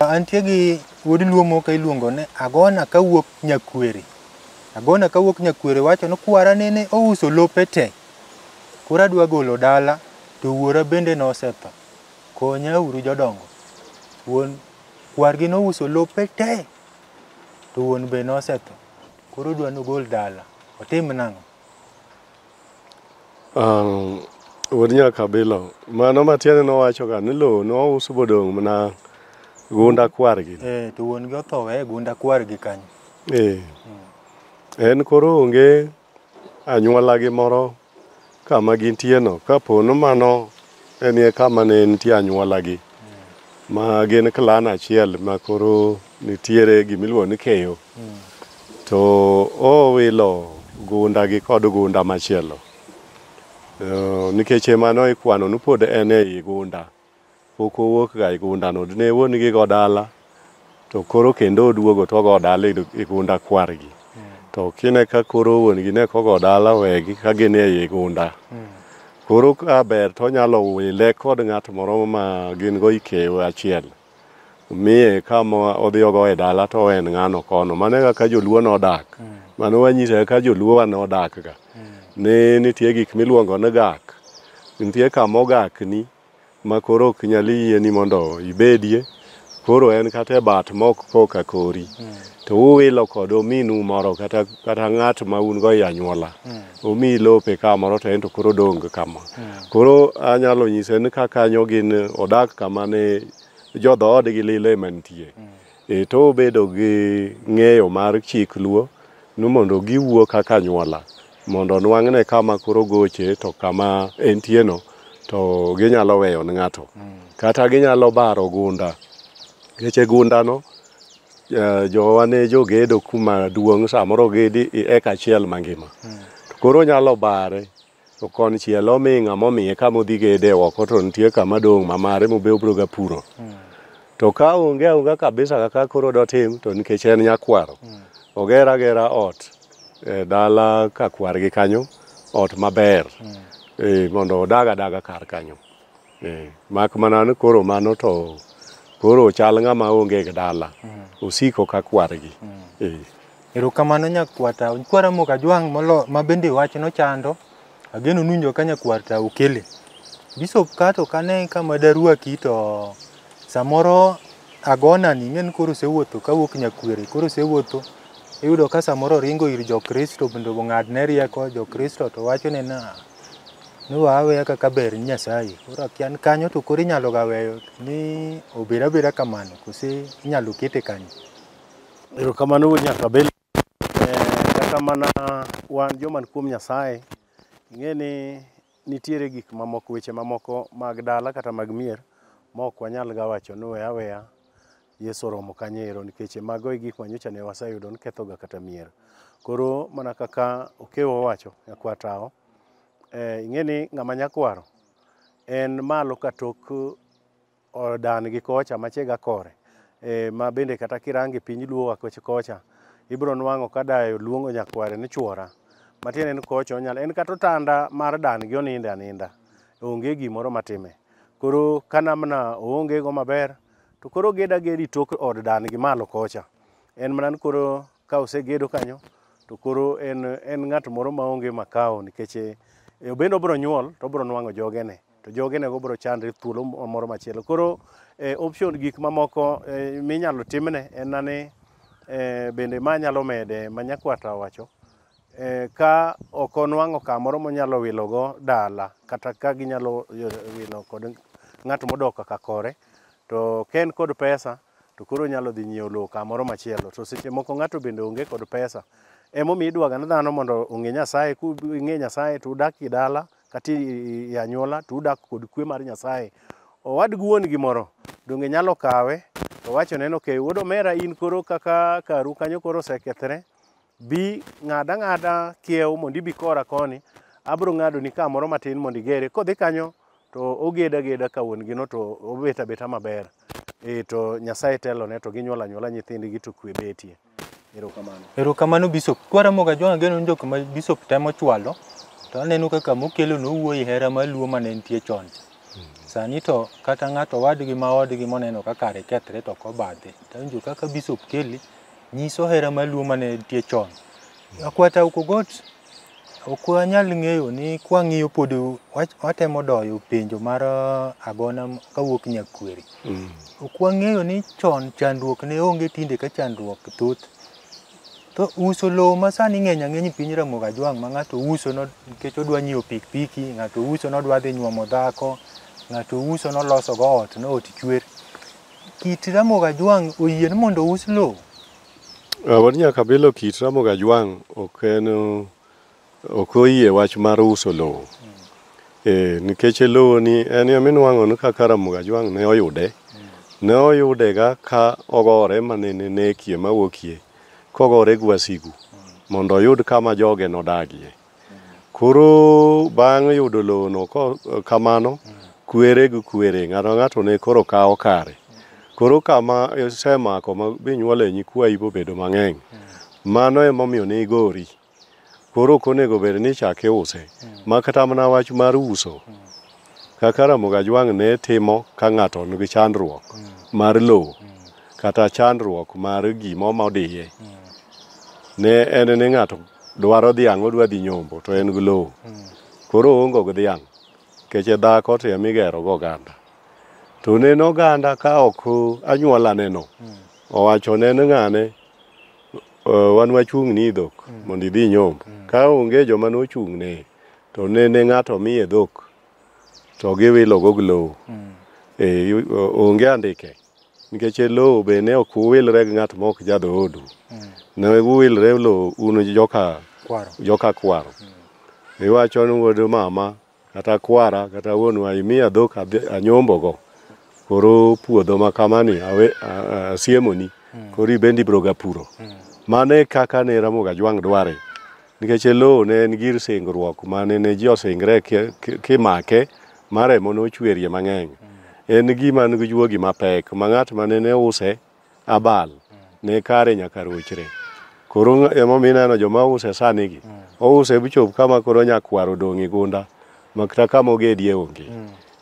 Antie gi wuod luo moko iluongo ni Agona kawuok Nyakwere. Agona kawuok Nyakwere wacho ni kwara nene ouso lope te Koro adwa golo dala to wuora bende nosetho. Konya uru jodongo. Wuon kwargi nouso lope te to wuon be nosetho. Koro odwa nogol dala. Otim nang'o? Um, wuod nyakabilo mano matiende nowachoga ni lowo nouso bodong' mana gunda kwargi Eh, to wuon gi otho weye gunda kwargi kanyo. eh. en koro onge anyuolagi moro kama gintieno kapo ni mano enie kama ne nitie anyuolagi ma gin klan achiel ma koro nitiere gimiluongo ni keyo to owilo gundagi kod gunda machielo Eh, nikech emano ikwano ni pod en ei gunda Pok owuok ga e gunda no. Ne wuon gi go dala to koro kendo oduogo to ogo dala e gunda kwargi. To kine ka koro wuon gi ne kogo dala wegi ka gin e gunda. Koro ka ber to onyalo wile kod ng'at moro ma gin go ikew achiel. Miye kama odhi ogo e dala to en ng'ano kono. Mano e kaka joluo nodak. Mano wanyise kaka joluo wa nodak ga. Ne nitie gik miluongo ni gak. Nitie kama ogakni. ma koro ok nyal yieni mondo ibedie, koro en kata e bat mok koka kori, to uwilo kod ominu moro kata, kata ng'at ma un go e anyuola, omiyi lope kamoro to en to koro odong kama. Koro anyalo nyise ni ka kanyo gin odak kama ne jo dhoodgi lilo ema nitie. E to obedo gi ng'eyo mar chik luo ni mondo giwuo kaka anyuola mondo nwang'ne kama koro goche to kama entieno to ginyalo weyo ne ng'ato kata ginyalo baro gunda ngeche gundano eh, jowa ne jogedo kuma duong' samoro gedi i eka achiel mangima to koro nyalo bare To konchiel omi ng'ama omiye kama odhi gede oko to nitie kama dong' ma mare mobe obiro ga puro. To ka onge aonga kabisa kaka koro dotim to nikech en nyakwaro, oger agera ot e dala ka kwargi kanyo, ot maber eh, mondo odag adaga kar kanyo. Eh, mak mana ni koro mano to koro chal ng'ama onge gi dala mm. osiko ka kwargi mm. eh. erokamano nyakwata nkwara moka jwang' molo ma bende wach nochando ageno nunjo ka nyakwarta okele bisop kato kane kama daruaki to samoro agonani ing'e ni koro osewuotho kawuok nyakwere koro osewuotho iyudo ka samoro oringo ir jokristo bende ong'adne rieko jokristo to wachone na Nowa aweya kaka ber ni Nyasaye. Koro akia ni kanyo to koro inyalo ga weyo ni obed abeda kamano kose inyalo kete kanyo. Erokamano wuod Nyakabele. Eh, Kata mana wan joman kuom Nyasaye, ing'e ni nitiere gik mamoko, weche mamoko mag dala kata mag mier ma ok wanyal ga wacho ni we aweya Yesu oromo kanyo ero nikech e mago e gik ma nyocha ne waseyudo ni kethoga kata mier. Koro mana kaka Okewo owacho, nyakwar Tawo, eh, ing'e ni ng'ama nyakwaro en malo ka tok odan gi kocha machega kore eh, ma bende kata kirange piny luo wa koch- kocha ibiro nwang'o ka dayo luongo nyakware ni chwora matiende ni kocha onyalo en kata otanda mar dan gi oninde aninda onge gimoro matime koro kanamna oonge go maber To koro ged agedi tok od dan gi malo kocha. En mana ni koro ka osegedo kanyo to koro en, en ng'at moro maonge makao nikech eh, obende obiro nyuol to obiro nwang'o jogene to jogenego biro chandre thuolo moro machielo. Koro eh, option gik mamoko eh, minyalo timne en na ni eh, bende ma nyalo mede ma nyakwata owacho eh, ka ok onwang'o kamoro monyalo wilogo dala kata ka ginyalo yo- wilo kod ng'at modok kaka kore to ka en kod pesa to koro onyalo dhi nyiewo lowo kamoro machielo to seche moko ng'ato bende onge kod pesa emomiyo idwaga ni dhano mondo ong'e nyasaye ku ing'e nyasaye to udak e dala kata i- i- i anyuola to udak kod kwe mar nyasaye owad gi wuon gi moro donge nyalo kawe to wachone ni okay wuod omera in koro kaka karu kanyo koro osekethre Bi ng'ad ang'ada kiew mondo ibi kora koni, abiro ng'adoni ka moro matin mondo igere. Kodhi kanyo to oged ageda ka wuon gino to obet abeta maber. Eh to Nyasaye telone to ginyuol anyuola nyithindgi to kwe betie. Erokamano. Erokamano Bishop. Kwaramoga John Ageno en jok ma Bishop temo chwalo to aneno kaka mokelo nowuoyi hera mar Luo mane nitie chon cha. Sani to kata ng'ato wadgi ma odgi moneno ka kare kethre to ok obadhe. To awinjo kaka Bishop kele nyiso hera mar luo mane nitie chon. Akwata Ukogot ok wanyal ng'eyo ni kwang'iyo pod wach- watemo doyo penjo mar ah, agona m- kawuok Nyakweri. Ok wang'eyo ni chon chandruok ne onge tinde ka chandruok thoth. To uso lowo ma sani ng'eny ang'eny e piny Ramogi Ajwang' ma ng'ato uso no- nikech odwa nyiewo pikipiki, ng'ato uso nodwa dhi nyuomo dhako, ng'ato uso nolosogo ot, no ot chwer. Kit Ramogi Ajwang' oyie ni mondo ous lowo? Ah, wan nyaka bilo kit Ramogi Ajwang' ok en ok oyie wach mar uso lowo. Eh, nikech lowo ni en ema inuang'o ni kaka Ramogi Ajwang' ne oyude. Ne oyudega ka ogore mane ne nekie mawuokie kogore gi wasigu mondo oyud kama joge nodagie. Koro bang' yudo lowono ko- kamano, kwere gi kwere, ng'ato ka ng'ato ne koro kawo kare. Koro kama isemako ma binyuole nyikwayi bobedo mang'eny, mano emomiyo ne igori. Koro ok onego bed ni ichak iuse, ma kata mana wach mar uso, kaka Ramogi Ajwang' ne timo ka ng'ato nigi chandruok mar lowo kata chandruok mar gima omodiye, ne en ni ng'ato dwaro dhiang' odwa dhi nyombo to en gi lowo koro oongo gi dhiang' keche dhako to ema igero go oganda to neno oganda ka ok anyuola neno owacho neno ng'ane "Eh, wan wachung' ni dhok mondo idhi nyombo ka onge joma nochung' ne to nene ng'ato miye dhok to giwilo go gi lowo Eh, yu- o- onge andike Nikech e lowo be ne ok uwilre gi ng'at ma ok jadhoodu, mm. ne uwilre e lowo un joka kwaro. Joka kwaro. Mm. Iwacho ni wuod mama kata kwara kata wuonwa imiya dhok anyombogo koro puodho ma kamani asiemoni mm. koro ibende ibroga puro. Mm. Mano e kaka ne Ramogi Ajwang' dware Nikech e lowo ne en gir singruok ma ne ne ji osingre kimake ma remo nochwerie mang'eny. En gima nigi juogi mapek ma ng'at ma ne use abal ne kare nyaka rochre. Koro emomiyo ineno joma use sanigi, ouse bichop kama koro nyakwar odong' e gunda ma kata kama ogedie onge.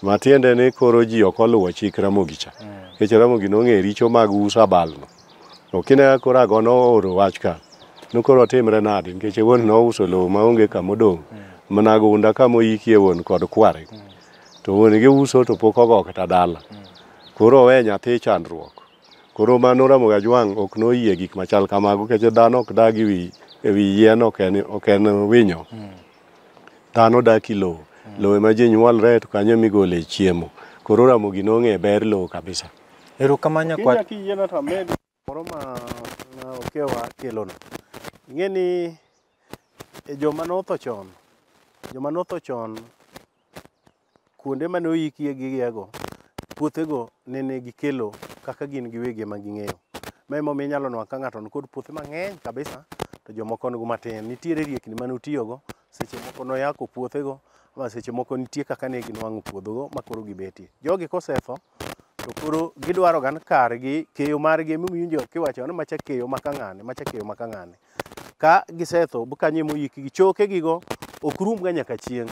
Matiende ni koro ji ok oluwo chik Ramogi cha, nikech Ramogi nong'eyo richo mag uso abalno. To kine koro ago nooro wach ka, nokoro timre nadi nikech wuon nouso lowo maonge kama odong' mana gunda kama oyikie wuon kod kware. To wuon gi uso to pok ogo kata dala. Koro owe nyathi chandruok. Koro ma noramo ga jwang' ok noyie gik machal kamago nikech dhano ok dag ewi ewi yien ok en ok en winyo. Dhano dak i lowo. Lowo ema ji nyuolre to kanyo emigole chiemo. Koro Ramogi nong'e ber lowo kabisa. Erokamano nyakwar. Kinya kiyiena to amed moro ma okewa kelono. Ing'e ni e joma notho chon, joma notho chon kuonde mane oyikie gigego, puothego nene gikelo kaka gin giwegi ema ging'eyo. Ma emomiyo inyalo nwang' ka ng'ato nikod puothe mang'eny kabisa to jomoko nigo matin. Nitiere riekni mane otiyogo seche moko noyako puothego ma seche moko nitie kaka ne ginwang'o puodhogo ma koro gibetie. Jogi kosetho to koro gidwaro gan kargi keyo margi emiwinjo kiwacho ni macha keyo ma kang'ane macha keyo ma kang'ane. Ka gisetho kanyo emoyikgi chokegigo ok rumga nyaka chieng'.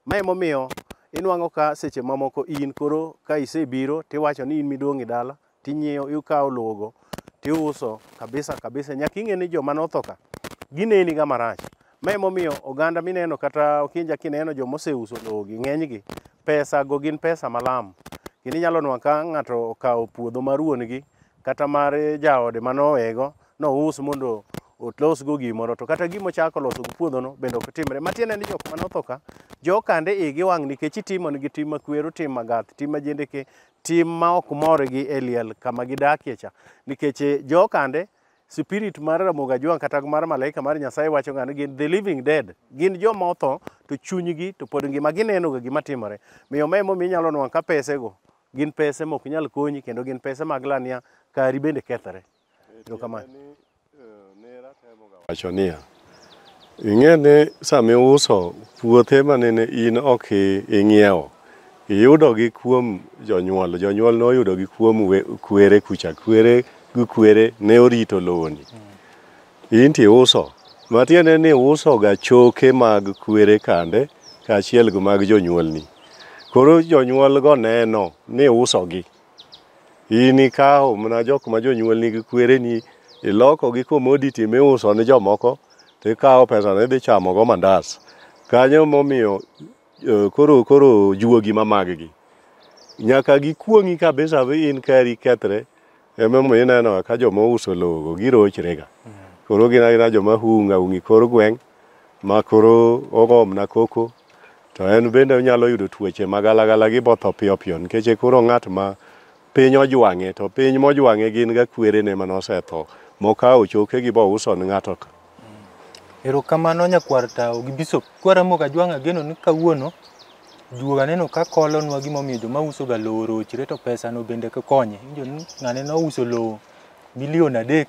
Ma emomiyo inwang'o ka seche mamoko in koro ka isebiro tiwacho ni in midong' e dala tinyiewo ikawo lowogo tiuso kabisa kabisa nyaka ing'e ni joma notho ka gineni ga marach ma emomiyo oganda mineno kata okinja kineno joma oseuso lowogi ng'enygi pesa go gin pesa malam kendo inyalo nwa ka ng'ato okawo puodho mar wuon-gi kata mar jaode manowego nous mondo otlosgo gimoro to kata gima ochako loso gi puodhono bende ok timre matiende ni jok manotho ka jokande igi wang' nikech itimonigi tim makwero tim magath tim majendeke tim ma ok mor gi e liel kama gidakie cha nikech eh, jokande spirit mar Ramogi Ajwang' kata mar malaika mar Nyasaye wacho ng'ani gin the living dead gin joma otho to chunygi to pod ngima ginenoga gima timore miyo ma emomiyo inyalo nwang' ka pesego gin pese mok nyal konyi kendo gin pese mag lania kari bende kethre Erokamano. Wacho niya, ing'e ni sama iuso puothe ma nene in ok i- ing'iewo, iyudogi kuom jonyuol. Jonyuol noyudogi kuom we- kwere kucha. Kwere gi kwere ne orito lowoni. In to iuso. Matiende ni iusoga choke mag kwere kande kaachiel gi mag jonyuolni. Koro jonyuolgo neno ni iusogi. In ikawo mana jok ma jonyuol nigi kwereni iloko gi commodity miuso ne jomoko to ikawo pesano idhi chamo go mandas. Kanyo momiyo eh, koro koro juogi ma maggi nyaka gikuong'i kabisa vi in kari kethre emomiyo ineno ka joma ouso lowogo girochrega koro gin agina joma hunga hungi kor gweng' ma koro ogomna koko To en bende onyalo yudo tuoche ma galagala gi botho piyo piyo nikech e koro ng'at ma piny ojwang'e to piny mojwang'e gin ga kwerene mane osetho mokawo chokegi bouso ne ng'ato ka. Erokamano nyakwar tawo gi bishop. Kwara moga jwang' ageno ni kawuono juoga aneno ka kolonwa gimomiyo joma usoga lowo orochre to pesano bende konye. Injo ni ng'ane nouso lowo milion adek